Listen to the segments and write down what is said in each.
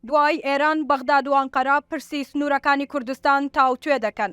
دوای ئێران، بەغداد و ئەنقەرە پرسی سنوورەکانی کوردستان تاوتوێ دەکەن.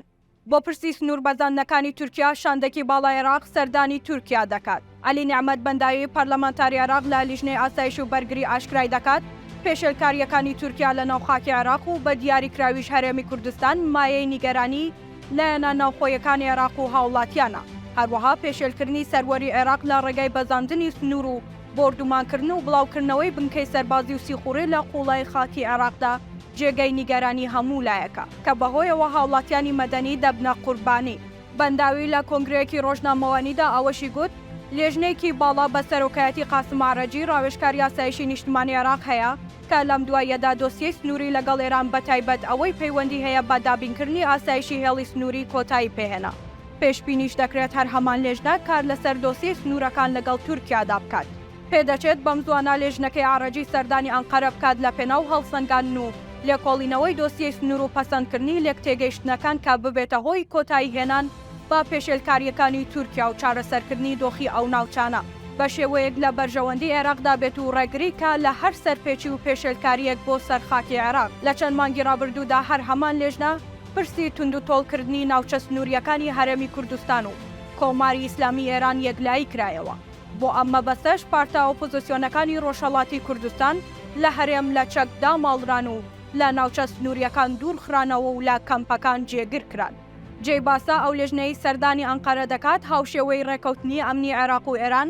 بۆ پرسی سنوور بەزاندنەکانی تورکیا، شاندێکی باڵای عێراق سەردانی تورکیا دەکات. عەلی نێعمەت بەنداوی، پەرلەمانتاری عێراق لە لیژنەی ئاسایش و بەرگری ئاشکرای دەکات، پێشێلکارییەکانی تورکیا لەناو خاکی عێراق و بە دیاریکراویش هەرێمی کوردستان مایەی نیگەرانی لایەنە ناوخۆیەکانی عێراق و هاوڵاتیانە. هەروەها پێشێلکردنی سەروەری عێراق لە ڕێگای بەزاندنی سنوور و بۆردومانکردن و بڵاوکردنەوەی بنکەی سەربازی و سیخوڕی لە قوڵایی خاکی عێراقدا جێگەی نیگەرانی هەموو لایەکە، کە بەهۆیەوە هاوڵاتیانی مەدەنی دەبنە قوربانی. بەنداوی لە کۆنگرەیەکی ڕۆژنامەوانیدا ئەوەشی گوت، لێژنەیەکی باڵا بە سەرۆکایەتی قاسم ئەعرەجی ڕاوێژکاری ئاسایشی نیشتمانی عێراق هەیە، کە لەم دواییەدا دۆسیەی سنووری لەگەڵ ئێران بەتایبەت ئەوەی پەیوەندی هەیە بە دابینکردنی ئاسایشی هێڵی سنووری کۆتایی پێهێنا. پێشبینیش دەکرێت هەر هەمان لێژنە کار لەسەر دۆسیەی سنوورەکان لەگەڵ تورکیادا بکات. پێدەچێت بەمزوانە لێژنەکەی عەڕەجی سەردانی ئەنقەرە بکات لەپێناو هەڵسەنگاندن و لێکۆڵینەوەی دۆسیەی سنوور و پەسەندکردنی لێکتێگەیشتنەکان کە ببێتە هۆی کۆتاییهێنان بە پێشێلکارییەکانی تورکیا و چارەسەرکردنی دۆخی ئەو ناوچانە بەشێوەیەک لە بەرژەوەندی عێراقدا بێت و ڕێگری کا لە هەر سەرپێچی و پێشێلکارییەک بۆ سەر خاکی عێراق. لە چەند مانگی ڕابردوودا هەر هەمان لێژنە، پرسی توندوتۆڵکردنی ناوچە سنوورییەکانی هەرێمی کوردستان و کۆماری ئیسلامی ئێران یەکلایی کرایەوە، بۆ ئەم مەبەستەش پارتە ئۆپۆزسیۆنەکانی ڕۆژهەڵاتی کوردستان لە هەرێم لە چەک داماڵران و لە ناوچە سنوورییەکان دوور خرانەوە و لە کەمپەکان جێگر کران. جێی باسە ئەو لیژنەی سەردانی ئەنقەرە دەکات هاوشێوەی ڕێککەوتنی ئەمنی عێراق و ئێران